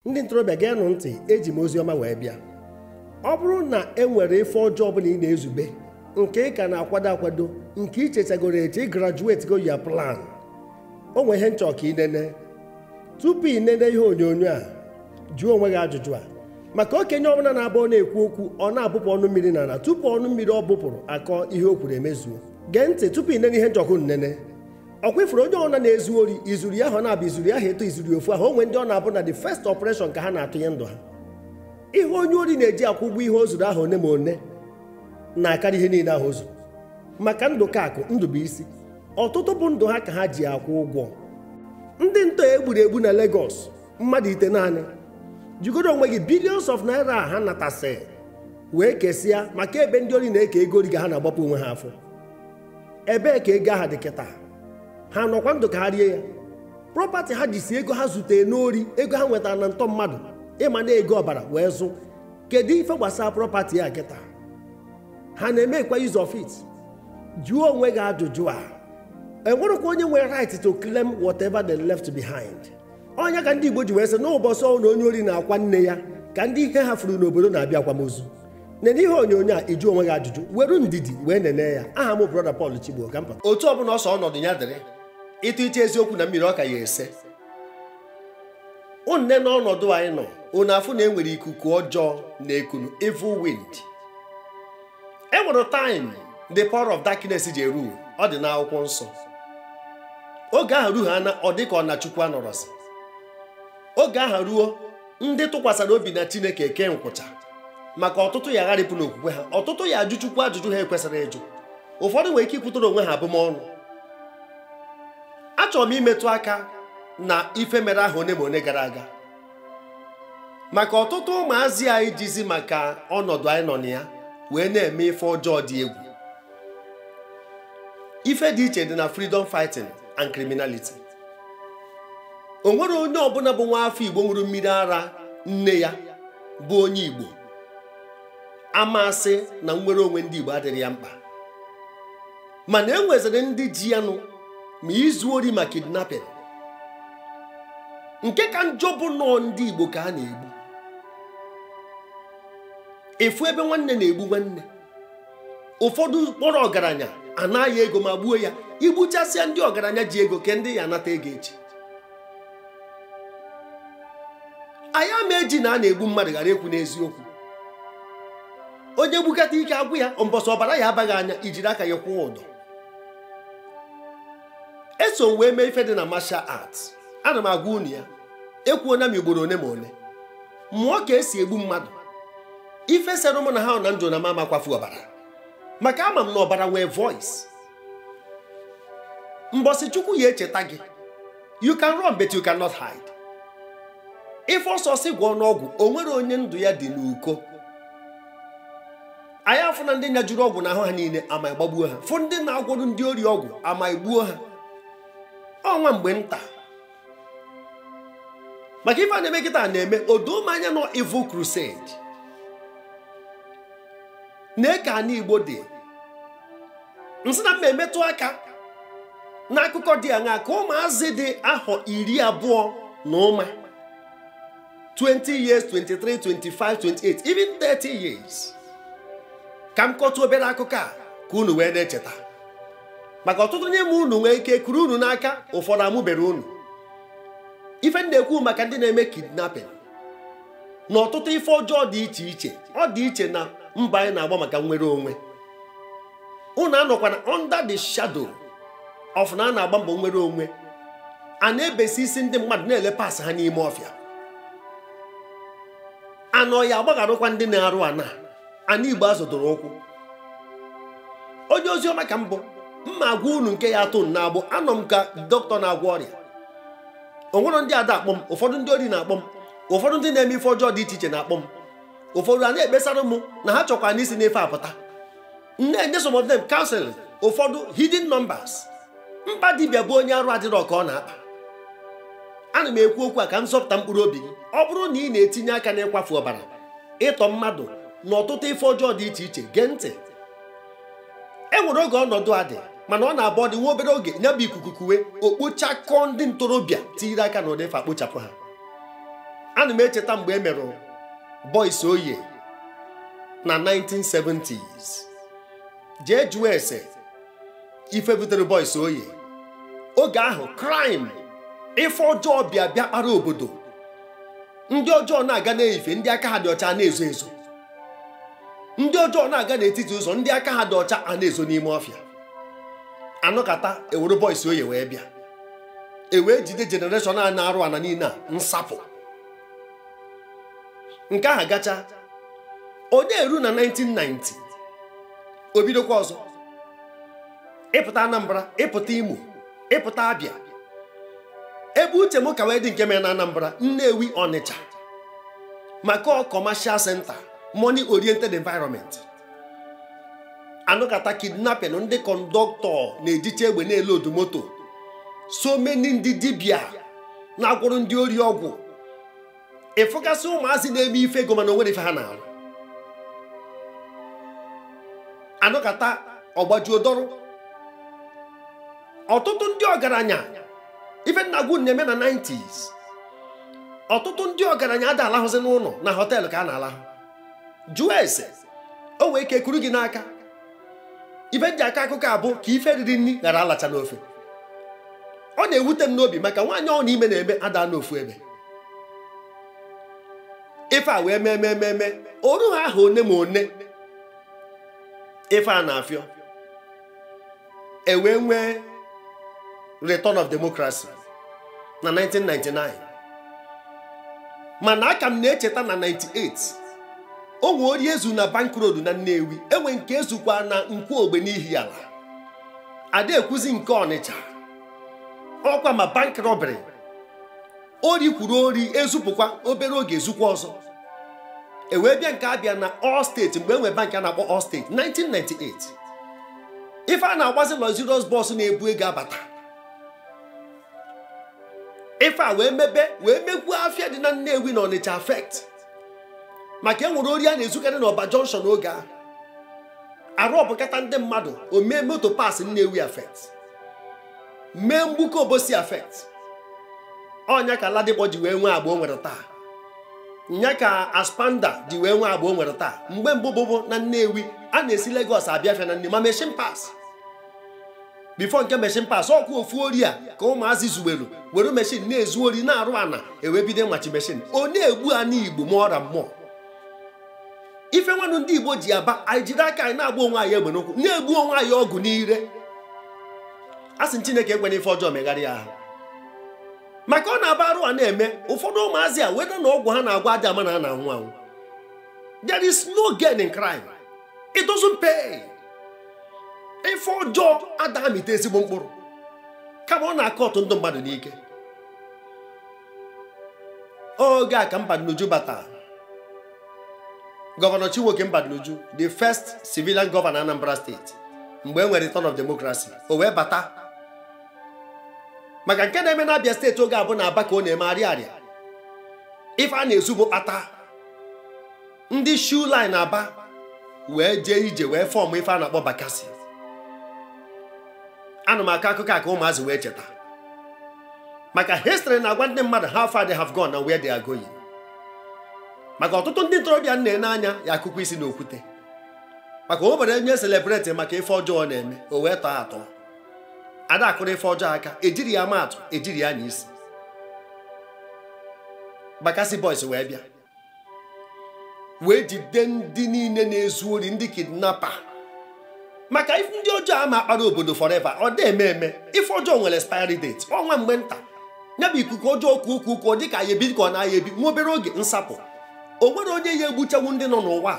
ndị ntorobịa geenụ ntị eji m ozi ọma wee bịa ọ bụrụ na e nwere ife ọjọọ ọbụla ị na-ezube nke ị ka na-akwado akwado nke ị chechagoro eche ị graduate go ya plan o nwee ihe m chọ ka ị nene tupu ị nene ihe onyonyo a jụọ onwe gị ajụjụ a maka okenye ọbụla na-abụ ọ na-ekwu okwu ọ na-abụpụ ọnụ mmiri n'ala tupu ọnụ mmiri ọ bụpụrụ akọ ihe o kwuru emezuo gee ntị tupu ị nene ihe m chọ ka unu nene ọ kwa ị fụrụ onye ọbụla na-ezu ori i zuru ya ahọ naabọ i zuru ya ahọ ịtọ i zuru ya ofu ahọ o nwee ndị ọ na-abụ na the first operation ka ha na-atụnye ndụ ha ihe onye ori na-eji akwụ ụgwọ ihe o zuru ahọ one ma one na-akarị ihe niile ahụ o zuru maka ndụ ka akụ ndụ bụ isi ọtụtụ bụ ndụ ha ka ha ji akwụ ụgwọ ndị ntọ e gburu egbu na Lagos mmadụ itenaanị jụgodị onwe gị billions of naira ha natasị wee kesịa maka ebe ndị ori na-eke ego ori ka ha na-agbapu onwe ha afọ ebee ka ego aha dị kịta ha nọkwa ndụ ka ha rie ya property ha ji si ego ha zutere n'ori ego ha nwetara na ntọ mmadụ ịma na ego ọbara wee zụ kedu ife gbasara property ya kịta ha na-emekwa use of it jụọ onwe gị ajụjụ a e nwerekwa onye nwere right to claim whatever they left behind ọ nya ka ndị Igbo ji wee sị n'ụbọchị ọbụna onye ori na-akwa nne ya ka ndị ihe ha furu n'obodo na-abịa akwamozu nene ihe onyonyo a ị jụ onwe gị ajụjụ were ndidi wee nene ya aha m brother Paul Chigbo ka mpa otu ọbụla ọ sọ ọnọdụ ya dịrị ị tụcha eziokwu na mmiri ọ ka ya ese ụmụnne n'ọnọdụ anyị nọ unu afụ na e nwere ikuku ọjọọ na-ekunụ evil wind e nwere time the power of darkness ji eru ọ dị n'akwụkwọ nsọ oge ahụ ruo ha na ọ dị ka ọ na Chukwu anọrọzi oge ahụ ruo ndị tụkwasara obi na chineke ekee nkwụcha maka ọtụtụ ya gharịpụ n'okwukwe ha ọtụtụ ya ajụ chukwu ajụjụ ha ekwesịrọ ịjụ ụfọdụ nwere ike ikwutara onwe ha abụmọnụ achọrọ m imetụ aka na ife mere ahọ one ma one gara aga maka ọtụtụ ụmụazị anyị jizi maka ọnọdụ anyị nọ na ya wee na-eme ife ọjọọ dị egwu ife dị iche dị na freedom fighting and criminality o nwere onye ọbụla bụ nwa afọ igbo ṅụrụ mmiri ara nne ya bụ onye igbo a ma-asị na nnwere onwe ndị igbo adịrọ ya mkpa mana e nweziri ndị ji ya nụ ma izu ori ma kidnapping nke ka njọ bụ na ọ ndị igbo ka a na-egbu ị fụ ebe nwanne na-egbu nwanne ụfọdụ kpọrọ ọgaranya anaghị ego ma gbuo ya i gbuchasịa ndị ọgaranya ji ego kee ndị ị ya-anata ego echi anyị ama eji na a na-egbu mmadụ ghara ekwu n'eziokwu onye gbukata ike agwụ ya mbọsị ọbara ya-aba gị anya i jiri aka yị kwụọ ụdọ eso m wee mee ife dị na martial arts ana m agwa unu ya ekwuona m ugboro one ma one mụọ ka esi egbu mmadụ ife sere mụ na ha na ndụ na m ama akwafu ọbara maka ama m na ọbara nwee voice mbọsị chukwu ya-echeta gị you can run but you cannot hide ife ọ sọ si gwọọ n'ọgwụ o nwere onye ndụ ya dị n'uko anyị afụna ndị nyajuru ọgwụ n'ahụ ha niile ama gbagbuo ha fụ ndị na-agwọrụ ndị ori ọgwụ ama egbuo ha ọ nwa mgbe nta maka ife a na-eme kịta na-eme odoo m anya n'ọ evil crusade na ka ana igbo dị m sị na m ma emetụ aka n'akụkọ dị aṅaa ka ụmụazị dị ahọ iri abụọ na ụma 20 years 23 25 28 even 30 years ka m kọtụ obere akụkọ a ka unu wee na-echeta maka ọtụtụ n'ime unu nwee ike kuru unu n'aka ụfọdụ amụberọ unu ife ndị ekwu maka ndị na-eme kidnapping na ọtụtụ ife ọjọọ dị iche iche ọ dị iche na mbọ anyị na-agba maka nnwere onwe unu anọkwana under the shadow of na a na-agba mbọ nnwere onwe a na-ebesi isi ndị mmadụ na-ele parts ha n'ime ọfịa anaha agbagharụkwa ndị na-arụ ana ana igbo a zọdoro ụkwụ onye ozi ọma ka m bụ m ma agwa unu nke ya-atọ unu n'agbụ anọ m ka doctor na-agwọ ọrịa o nwerọ ndị ada akpọ m ụfọdụ ndị ori na-akpọ m ụfọdụ ndị na-eme ife ọjọọ dị iche iche na-akpọ m ụfọdụ a na-ekpesara m na ha chọkwanụ isi n'ife a pụta na-enye some of them counseling ụfọdụ hidden numbers mkpa dibịa bụ onye arụ adịrọ ka ọ na-akpa ana m ekwu okwu a ka m zọpụta mkpụrụ obi gị ọ bụrụ na ị na-etinye aka n'ịkwafu ọbara ịtọ mmadụ na ọtụtụ ife ọjọọ dị iche iche gee ntị e nwere oge ọnọdụ a dị mana ọ na-abụ ọ dị nwa obere oge nya bụ ikuku kuwe o kpochakọọ ndị ntorobịa tiiri aka na ụdị ife a kpochapụ ha ana m echeta mgbe e mere boys oye na 1970s jee jụọ ese ife butere boys oye oge ahụ crime ife ọjọọ bịa bịakpara obodo ndị ọjọọ na-aga n'ife ndị aka ha dị ọcha na-ezo ezo ndị ọjọọ na-aga n'etiti ụzọ ndị aka ha dị ọcha a na-ezo n'ime ọfịa a nọkata e were boys oye wee bịa e wee jide generation a na-arụ ana niile a nsapụ nke ahụ gacha ọ na-eru na 1990 o bidokwa ọzọ ịpụta Anambra ịpụta Imo ịpụta Abịa ebe uche m ka wee dị nke mere na Anambra Nnewi Ọnịcha maka commercial center money oriented environment a nụkata kidnapping ndị kọndọktọ na-ejicha egbe na-eloodu moto so many ndị dibịa na-agwọrọ ndị ori ọgwụ ị fụgasị ụmụazị na-eme ife ego mana o nwere ife ha na-arụ a nọkata ọ gbajuo dọrọ ọtụtụ ndị ọgaranya ife m na-agwa unu na-eme na 90s ọtụtụ ndị ọgaranya ada alahụzi n'ụlọ na họteelụ ka a na-alahụ jụọ ese o wee ike kuru gị n'aka ife m ji akọ akụkọ a bụ ka ife riri nri ghara alacha n'ofe ọ na-ewute m n'obi maka nwaanyị ọ na ime na-eme ada anọ ofu ebe ife a wee mee mee mee o ru ha ahụ one ma one ife a na-afịọ e wee nwee return of democracy na 1999 mana aka m na-echeta na 98 o nwe ori e zu na bank road na Nnewi e nwe nke e zukwa na Nkwọ Ogbe n'Ihiala ada ekwuzi nke Ọnịcha ọkwa ma bank robbery ori kwuru ori e zupụkwa obere oge e zukwa ọzọ e wee bịa nke Abịa na All State mgbe e nwe bank a na-akpọ All State 1998 ife a na-agbazi luxurious bus na-ebu ego abata ife a wee mebe wee mekwuo afịa dị na Nnewi na Ọnịcha affect maka e nwere ori a na-ezukarị na Ọba Junction n'oge ahụ arụ ọbụkata ndị mmadụ o mee moto parts Nnewi affect mee Mgbuka Obosi affect ọ nya ka Ladipo ji wee nwee agba o nwere taa nya ka Aspamda ji wee nwee agba o nwere taa mgbe mbụ bụbụ na Nnewi a na-esi Lagos abịa afịa na Nnewi ma machine parts before nke machine parts ọkụ ofu ori a ka ụmụazị zuwelu were machine na-ezu ori na-arụ ana e wee bido machi machine ọ na-egbu ana Igbo ma ọra mmụọ ife nwanụ ndị Igbo ji aba anyị jide aka anyị na-agba onwe anyị egbe n'ụkwụ na-egbu onwe anyị ọgụ n'ire a sị Chineke ekwena ife ọjọọ megharịa ahụ maka ọ na-aba arụ a na-eme ụfọdụ ụmụazị a weda na ọgwụ ha na-agwọ a ja-ama na a na-anwụ anwụ there is no gain in crime it doesn't pay ife ọjọọ ada amịta ezigbo mkpụrụ kama ọ na-akọtụ ndụ mmadụ n'ike oge a ka Mbadinuju bata gọvanọ Chinwoke Mbadinuju the first civilian governor Anambra steeti mgbe e nwere return of democracy o wee bata maka nke na-eme na Abia steeti oge a bụ na Aba ka ọ na-eme Ariaria ife a na-ezu bụ kpata ndị shoe line aba wee jee ije wee fọm ife a na-akpọ bakasi ana m akọ akụkọ a ka ụmụazị wee cheta maka histrị na-agwa ndị mmadụ how far they have gone and where they are going maka ọtụtụ ndị ntorobịa m na-ene anya ya akụkọ isi na okwute maka o nwere onye selebreti maka ife ọjọọ na-eme o wee tọọ atọ a da akụrụ ife ọjọọ aka ejiri ya ama atụ ejiri ya anya isi bakasi boys wee bịa wee jide ndị niile na-ezu ori ndị kidnapa maka ndị ọjọọ ama akpara obodo forever ọ da eme eme ife ọjọọ nwere expiry date ọ nwa mgbe nta ya bụ ikuku ọjọọ kuo kuo kuo dị ka ya ebi ka ọ na-aya ebi nwa obere oge nsapụ o nwere onye ya egbuchanwu ndị nọ n'ụwa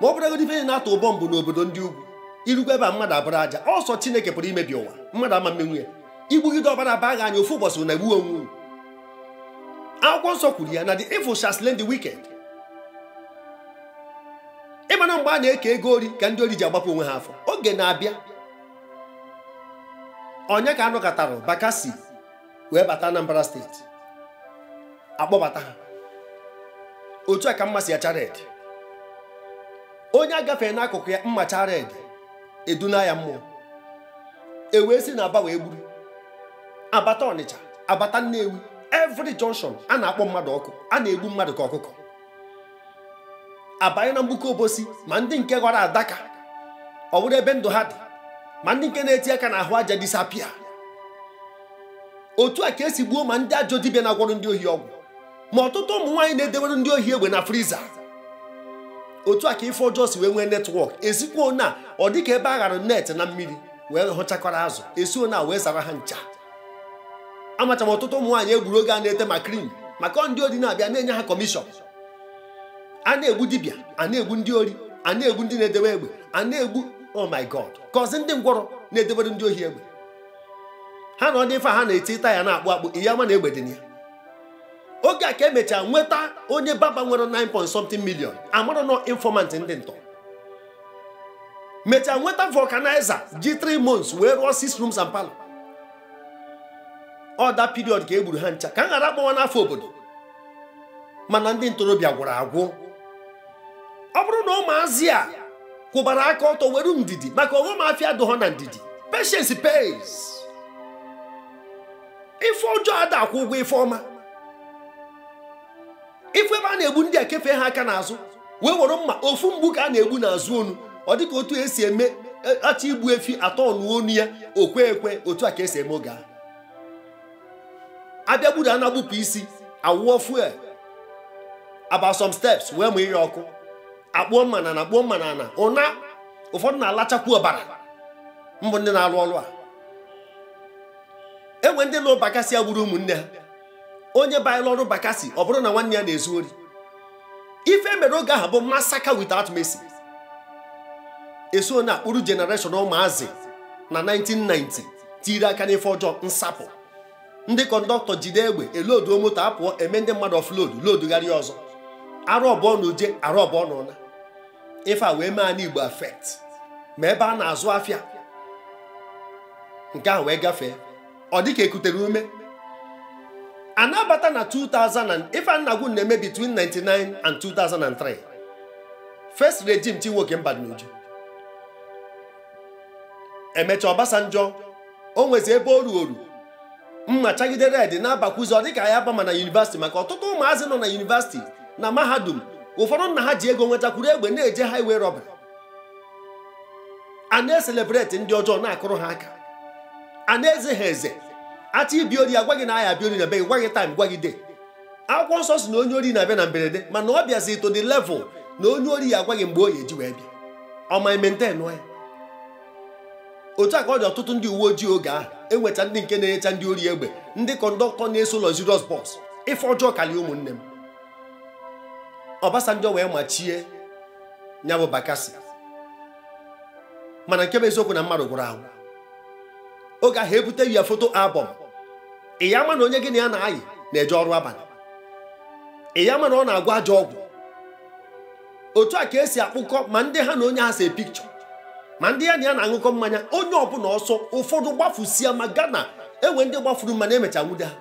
ma ọ bụrụgodị ife na-atụ bọmbụ n'obodo ndị ugwu irugwa ebe a mmadụ abụrụ aja ọ sọ Chineke pụrụ imebi ụwa mmadụ ama emenwu ya i gbugide ọbara baa gị anya ofu ụbọchị na-egbu onwe akwụkwọ nsọ kwuru ya na the evil shall slay the wicked ị ma na mgbe a na-eke ego ori ka ndị ori ji agbapụ onwe ha afọ oge na-abịa ọ nya ka a nọkatara bakasi wee bata Anambra steeti akpọbata ha otu a ka mma si acha red onye agafee n'akụkụ ya mma chaa red eduna ya mmụọ ewee si na aba wee gburu abata ọnịcha abata nnewi every junction a na-akpọ mmadụ ọkụ a na-egbu mmadụ ka ọkụkọ abanye na Mgbuka Obosi ma ndị nke gwọrọ adaka ọ bụrụ ebe ndụ ha dị ma ndị nke na-eti aka n'ahụ aja disapia otu a ka esi gbuo ma ndị ajọ dibịa na-agwọrọ ndị ohi ọgwụ ma ọtụtụ ụmụ nwaanyị na-edewere ndị ohi egbe na friza otu a ka ife ọjọọ si wee nwee netwọk esikwa ona ọ dị ka ebe a ghara net na mmiri wee hụchakọrọ azụ esi ona wee zara ha ncha amacha m ọtụtụ ụmụ nwaanyị egburu oge a na-ete ma krim maka ndị ori na-abịa na-enye ha kọmishọn a na-egbu dibịa a na-egbu ndị ori a na-egbu ndị na-edewe egbe a na-egbu oh my god kọzi ndị ngwọrọ na-edebere ndị ohi egbe ha anọdụ ife ha na-eti taya na-akpụ akpụ ị ya ama na egbe dị ya oge a ka emechaa nweta onye baba nwere 9 point something million amara na ọ informant ndị ntọ mechaa nweta vulcanizer ji 3 months wee rụọ 6 rooms and parlor ọ that period ka e gburu ha ncha ka m ghara akpọwa n'afa obodo mana ndị ntorobịa gwụrụ agwụ ọ bụrụ na ụmụazị a kwụbara aka ọtọ were ndidi maka ọghọm afịa adụghọ na ndidi patience pays ife ọjọọ ada akwụ ụgwọ ife ọma ị fụ ebe a na-egbu ndị ekefe ha aka n'azụ wee were mma ofu mgbu ka a na-egbu n'azụ onu ọ dịka otu esi eme e, achọ igbu efi atọ ọnụ onu ya okwe ekwe otu a ka esi eme oge a abịa gburu a na-egbupụ isi awụọ fuel about some steps wee mụnye ọkụ akpụọ mma na na akpụọ mma na-ana ụna ụfọdụ na-alachakwu ọbara mbụ ndị na-arụ ọrụ a enwe ndị nọ Bakassi a gburu ụmụnne ha onye banyere ọrụ Bakassi ọ bụrụ na nwanne ya na-ezu ori ife e mere oge ahụ bụ massacre without mercy eso na akpụrụ generation ụmụazị na 1990 tiri aka n'ife ọjọọ nsapụ ndị kọndọktọ jide egbe eloduo moto apụọ eme ndị mmadụ offload lodugharịa ọzọ arụọ abụọ na uje arụọ abụọ na ụna ife a wee mee ana Igbo affect ma ebe a na-azụ afịa nke ahụ wee gafee ọ dịka ekutere ume a na-abata na 2000 ife a m na-ekwu na-eme between 99 and 2003 first regime Chinwoke Mbadinuju emecha Obasanjo o nwezi ebe o ruo oru mma chagide red na-abakwuzi ọ dịka ya bama na yunivasiti maka ọtụtụ ụmụazị nọ na yunivasiti na mahadum ụfọdụ nna ha ji ego nwetakwuru egbe na-eje highway robbery a na-eselebreti ndị ọjọọ na-akụrụ ha aka a na-eze ha eze achọ ịbịa ori agwa gị na a ya-abịa ori na be gị gwa gị time gwa gị day akwụkwọ nsọ sị na onye ori na-abịa na mberede mana ọ bịazi to the level na onye ori ya agwa gị mgbe ọ ya eji wee bịa ọ ma maintain ya otu a ka ọ dị ọtụtụ ndị uwe ojii oge ahụ enwecha ndị nke na-enyecha ndị ori egbe ndị kọndọktọ na-eso luxurious bus ife ọjọọ karịa ụmụnne m Obasanjo wee machie ya bụ Bakassi mana nke bụ eziokwu na mmadụ gwụrụ agwụ oge ahụ ebute ya foto album ị ya ama na onye gị na ya na-ayị na-eje ọrụ abalị ị ya ama na ọ na-agwọ ajọ ọgwụ otu a ka esi akpụkọ ma ndị ha na onye ahụ se picture ma ndị ya na ya na-aṅụkọ mmanya onye ọbụla ọsọ ụfọdụ gbafusia ma Ghana enwe ndị gbafuru mana emecha nwude ha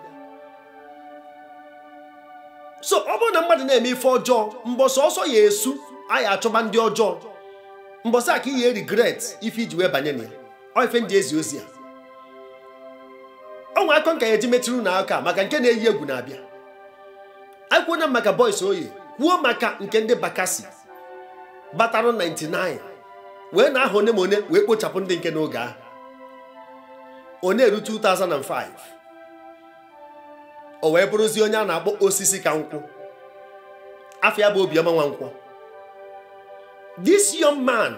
so ọ bụrụ na mmadụ na-eme ife ọjọọ mbọsị ọsọ ya esu a ya achọba ndị ọjọọ mbọsị a ka ị ya regret ife iji wee banye na ya ọ ife ndị ezi ozi a ọnwa akọ nka ya eji metụrụ na aka maka nke na-eyi egwu na-abịa ekwuona m maka Boys Oye kwuo maka nke ndị Bakassi batara 99 wee na-ahọ one by one wee kpochapụ ndị nke n'oge ahụ ọ na-eru 2005 o wee bụrụzie onye a na-akpọ osisi ka nkwụ afa ya bụ Obiọma Nwankwọ this young man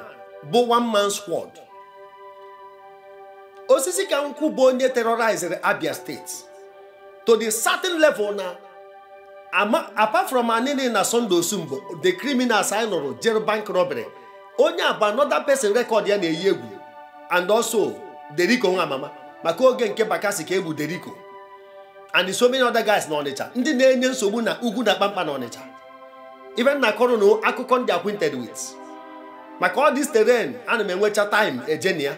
bụ one man squad osisi ka nkwụ bụ onye terrorized Abia steeti to the certain level na apart from Anini na Sunday Osunbor the criminals anyị nụrụ jere bank robbery onye a bụ another person record ya na-eyi egwu and also Deriko Nwamama maka oge nke Bakassi ka egbu Deriko and so many other guys na Ọnịcha ndị na-enye nsogbu na ugwu na mkpamkpa na Ọnịcha even na akọrọ ụnụ akụkọ m dị acquainted with maka all this terrain ana m enwecha time eje na ya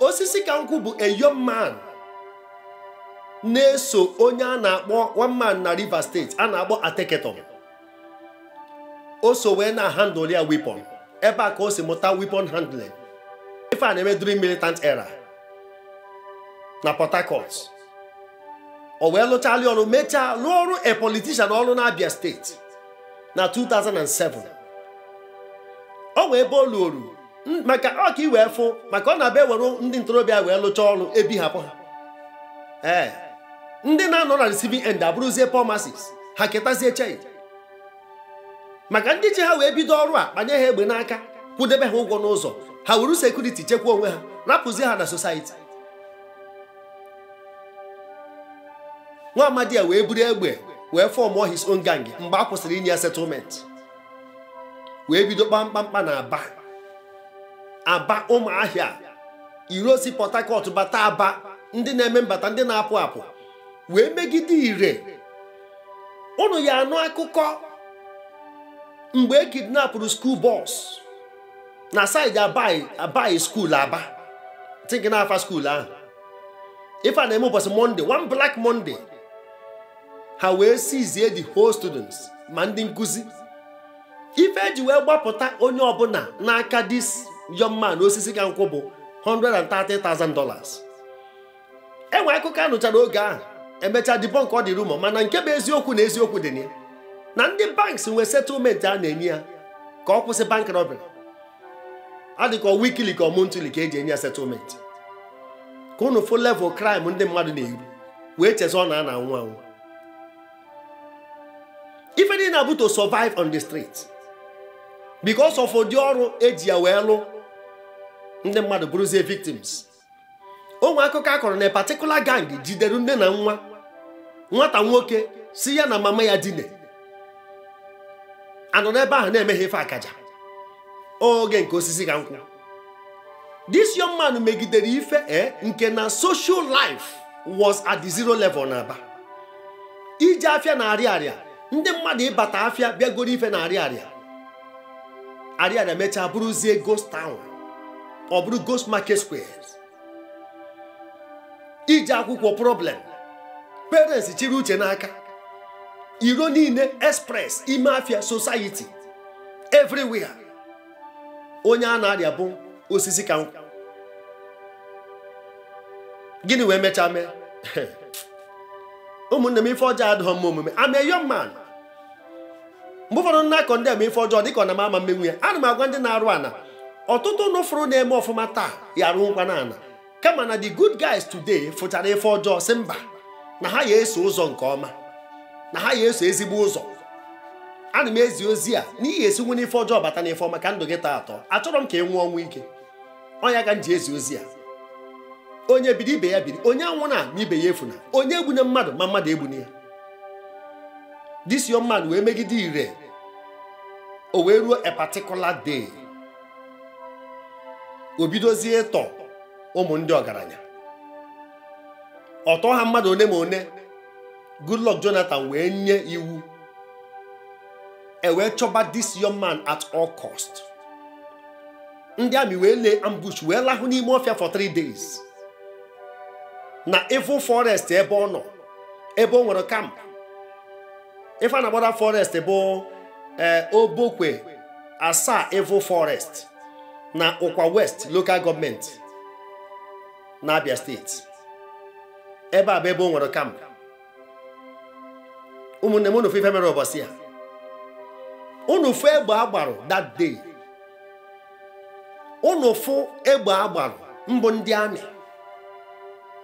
osisi ka nkwụ bụ a young man na-eso onye a na-akpọ one man na Rivers steeti a na-akpọ Ateke Tom o so wee na-handle ya weapon ebe a ka o si mụta weapon handling ife a na-eme during militant era na Port Harcourt o wee lụchalụ ya ọrụ mechaa lụọrọ a politician ọrụ na Abia steeti na 2007 o nwee ebe o luru maka ọ ka i wee fụ maka ọ na-abụ ewere ndị ntorobịa wee lụcha ọrụ a bịa hapụ ha ee ndị na-anọ na receiving end abụrụzie poor masses ha ketazie chei maka ndị ji ha wee bido ọrụ a kpanye ha egbe n'aka kwụdebe ha ụgwọ n'ụzọ ha wuru security chekwa onwe ha rapụzie ha na society nwa amadi a wee buru egbe wee fọmụọ his own gang mgbe a kwụsịrị inye ya settlement wee bido kpaba mkpamkpa na aba aba ụmụahịa road si port harcourt bata aba ndị na-eme mbata ndị na-apụ apụ wee megide ire ụnụ ya-anụ akụkọ mgbe e kidnapụrụ school bus na side abayi school aba think na afa school ahụ ife a na-eme ụbọchị monday one black monday ha wee siizie the whole students ma ndị nkụzi ife eji wee gbapụta onye ọbụla n'aka this young man osisi ka nkwụ bụ 130,000 dollars enwe akụkọ anụchara oge ahụ emechaa debunk ọ dị rumor mana nke bụ eziokwu na eziokwu dị na ya na ndị banks nwee settlement a na-enye ya ka ọ kwụsị bank robbery adịka ọ weekly ka ọ monthly ka eji enye ya settlement ka ụnụ fụ level crime ndị mmadụ na-eru wee chezọ na a na-anwụ anwụ ife niile na-abụ to survive on the street because of ụdị ọrụ eji ya wee lụ ndị mmadụ bụrụzie victims o nwe akụkọ a kọrọ na a particular gang jidere nne na nwa nwata nwoke si ya na mama ya dine a nọ n'ebe ahụ na-emeghe ife akaja oge nke osisi ka nkwụ this young man megidere ife e eh, nke na social life was at the zero level na aba ije afịa na Ariaria ndị mmadụ ịbata afịa bịa goro ife na Ariaria Ariaria mechaa bụrụzie ghost town ọ bụrụ ghost market square ije akwụkwọ problem parents chịrị uche n'aka iro niile express ime afia society everywhere onye a na-arịa bụ osisi ka nkwụ gịnị wee mechaa mee ụmụnne m ife ọjọọ adịghị mma omume I'm a young man mgbe ụfọdụ m na-akọ ndị eme ife ọjọọ dịka ọ na m ama mmenwu ya ana m agwa ndị na-arụ ana ọtụtụ unu fụrụ na-eme ọfụma taa ya arụnwukwanụ ana kama na the good guys today fụchara ife ọjọọ si mba na ha ya eso ụzọ nke ọma na ha ya eso ezigbo ụzọ ana m ezi ozi a na ị ya esinwu n'ife ọjọọ bata n'ife ọma ka ndụ gị tọọ atọ achọrọ m ka ị nwụọ ọnwụ ike ọ nya ka m ji ezi ozi a onye biri ibe ya biri onye anwụna ma ibe ya efuna onye egbune mmadụ ma mmadụ egbune ya this young man wee megide ife o wee ruo a particular day o bidozie ịtọ ụmụ ndị ọgaranya ọ tọọ ha mmadụ one ma one Goodluck Jonathan wee nye iwu e wee chọba this young man at all cost ndị amị wee lay ambush wee lahụ n'ime ọfịa for three days na evil forest ebe ọ nọ ebe o nwere camp ife a na-akpọ that forest bụ eh, obokwe Asa evil forest na ụkwa west local government na abia state ebe a bụ ebe o nwere camp ụmụnne m unu fụ ife mere ụbọchị ya unu fụ egbe a gbarụ that day unu fụ egbe a gbarụ mbụ ndị amị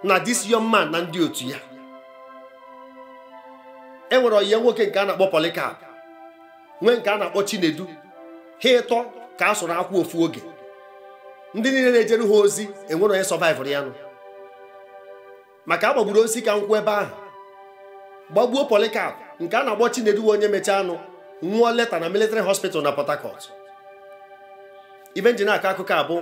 na this young man na ndị otu ya e nwere ọyị ya nwoke nke a na-akpọ Polycarp nwee nke a na-akpọ chinedu ha ịtọ ka a sụrụ akwụ ofu oge ndị niile na-ejere ha ozi enwerọ onye sọvaịvụrụ ya nụ maka a gbagburu osisi ka nkwụ ebe ahụ gbagbuo Polycarp nke a na-akpọ Chinedu onye mechaanụ nwụọ later na military hospital na Port Harcourt ife m ji na-akọ akụkọ a bụ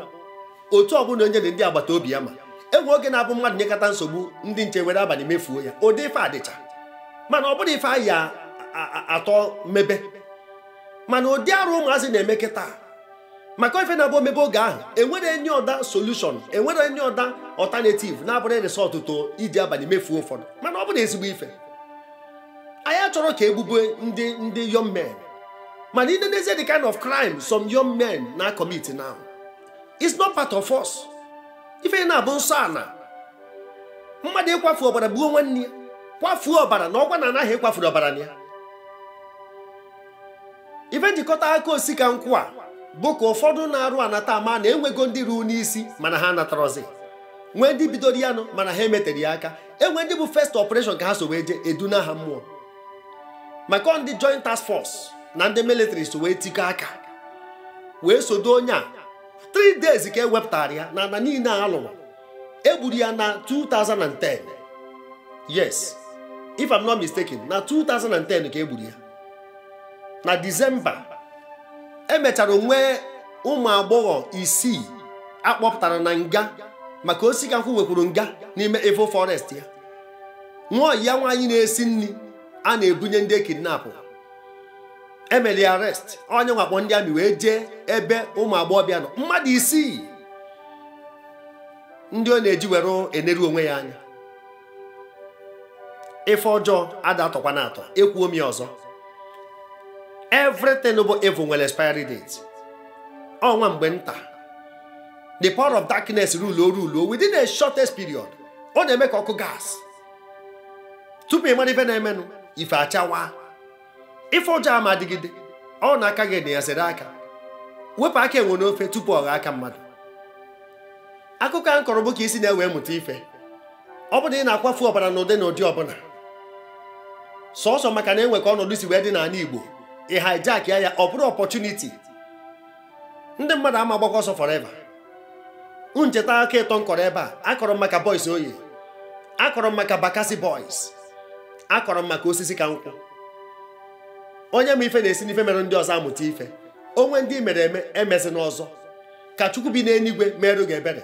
otu ọbụla onye dị ndị agbata obi ya ma e nwe oge na-abụ mmadụ nyekata nsogbu ndị nche were abalị mefuo ya ụdị ife a dịcha mana ọ bụrụ ife anyị atọ mebe mana ụdị arụ ụmụazị na-eme kịta maka ife na-abụ o mebe oge ahụ enwere any other solution enwere any other alternative na-abụrọ ị resort to iji abalị mefuo ụfọdụ mana ọ bụ na ezigbo ife anyị achọrọ ka egbube ndị young men mana i nee n'ezie the kind of crime some young men na commit now it's not part of us ife na-abụ nsọ ana mmadụ ịkwafu ọbara gbuo nwanne ya kwafuo ọbara na ọkwa na anaghị ịkwafuru ọbara na ya ife m ji kọta aka Osisikankwụ a bụ ka ụfọdụ na-arụ anata ama na enwego ndị ruo n'isi mana ha anatarọzi nwee ndị bidoro ya nụ mana ha emetere ya aka enwe ndị bụ first operation ka ha so wee jee eduna ha mmụọ maka ndị joint task force na ndị military so wee tikọ aka wee sodo onye a 3 days ka e wepụtara ya na ana niile a lụrụ egburu ya na 2010 yes if I'm not mistaken na 2010 ka egburu ya na Disemba e mechara nwee ụmụ agbọghọ isii akpọpụtara na nga maka Osisikankwụ nwekwuru nga n'ime Evil Forest ya nwa oyi ya nwaanyị na-esi nri a na-ebunye ndị e kidnapụ e meli arrest onye nwa akpọ ndị army wee jee ebe ụmụ agbọghọbịa nọ mmadụ isii ndị ọ na-eji were eneru onwe ya anya ife ọjọọ ada atọkwa na atọ ekwuo m ya ọzọ everything bụ evil nwere expiry date ọ nwa mgbe nta the power of darkness rule o rule within a shortest period ọ na-eme ka ọkụ gas tupu ị mara ife na-emenụ ife achawa ife ọjọọ ama adịgide ọ na aka gị na ya sere aka wepụ aka enwe n'ofe tupu ọ ghọọ aka mmadụ akụkọ a m kọrọ bụ ka i si na ya wee mụta ife ọ bụrụ na ị na-akwafu ọbara n'ụdị na ụdị ọbụla sọsọ maka na enwe ka ọnọdụ si wee dị n'ana Igbo ị hijackịa ya ọ bụrụ opportunity ndị mmadụ ama agbakwa ọsọ forever unu cheta aka ịtọ m kọrọ ebe a akọrọ m maka Boys Oye akọrọ m maka Bakassi Boys akọrọ m maka Osisikankwụ onye ma ife na-esi n'ife mere ndị ọzọ amụta ife o nwee ndị i mere eme emezina ọzọ ka chukwu bi n'eluigwe meerụ gị ebere